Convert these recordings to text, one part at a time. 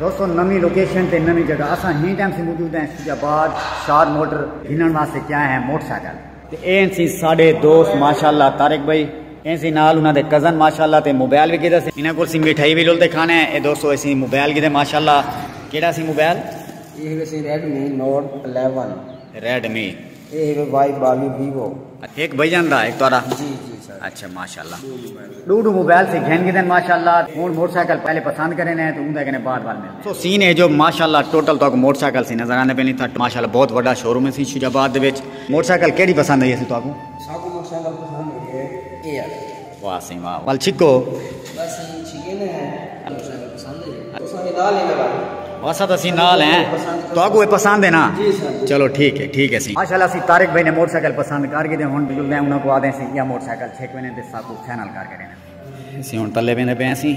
دوستو نمی لوکیشن تے نمی جگہ اساں ہی ٹائم سے موجود ہیں اسلام آباد شار موٹر گھنن واسطے کیا ہے موٹر سائیکل تے این سی ساڈے دوست ماشاءاللہ طارق بھائی این سی نال انہاں دے کزن ماشاءاللہ تے موبائل وی کیتا سی انہاں کول سی مٹھائی وی لول تے کھانا ہے اے دوستو اسی موبائل کیتے ماشاءاللہ کیڑا سی موبائل یہ ہے سی ریڈمی نوٹ 11 ریڈمی اے ہے وائی بالی ویوو ہک بھجن دا ہک تہاڈا جی جی سر اچھا ماشاءاللہ دو دو موبائل سے گھن گدن ماشاءاللہ ہن موٹر سائیکل پہلے پسند کرے نے تو اون دے کنے بعد بعد ملے تو سین ہے جو ماشاءاللہ ٹوٹل تو موٹر سائیکل سے نظر آنے پہلے تھا ماشاءاللہ بہت بڑا شو روم ہے سی شجاع آباد دے وچ موٹر سائیکل کیڑی پسند ہے سی تو اگوں ساکو موٹر سائیکل پسند ہے اے ہے واہ سئیں واہ ول چھکو۔ بس ایں چھکے نے ہیں جو تساں کوں پسند ہے جی تساں وی نال ہی لگا دو۔ اساں تاں سئیں نال ہیں تہاکوں اے پسند ہے نا چلو ٹھیک ہے ٹھیک ہے سئیں۔ ماشاءاللہ سئیں طارق بھائی نے موٹر سائیکل پسند کر گھدے ہن بجلدے انہاں کوں آدھیں سئیں ایہا موٹر سائیکل چھک ویندے تے ساکوں فائنل کر گھدے۔ اسیں ہن تلے ویندے پئے سئیں۔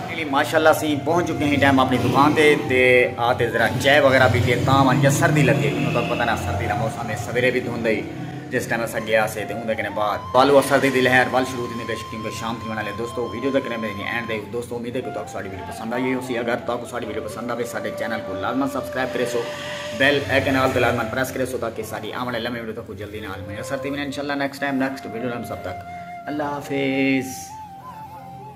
علی ماشاء اللہ اسی پہنچ چکے ہیں ٹائم اپنی دکان تے تے آ تے ذرا چائے وغیرہ بھی تے تاں ونجا سردی لگے انہوں تک پتہ نہ سردی دا موسم ہے سویرے بھی دھند ہی جس ٹائم اسا گیا سے تے اوندے کنے بعد والو سردی دی لہر ول شروع تھی پیش کیونکہ شام تھی ونالے دوستو ویڈیو تک رہنے دی اینڈ دے دوستو امید ہے کہ تاکو ساڑی ویڈیو پسند آئی ہو سی اگر تاکو ساڑی ویڈیو پسند آوے ساڑے چینل کو لازمان سبسکرائب کرے سو بیل ایکن آل تے لازمان پریس کرے سو تاکہ ساڑی آمنے لمحے ویڈیو تک جلدی نال میں اثر تھی ونالے انشاءاللہ نیکسٹ ٹائم نیکسٹ ویڈیو لازمان سب تک اللہ حافظ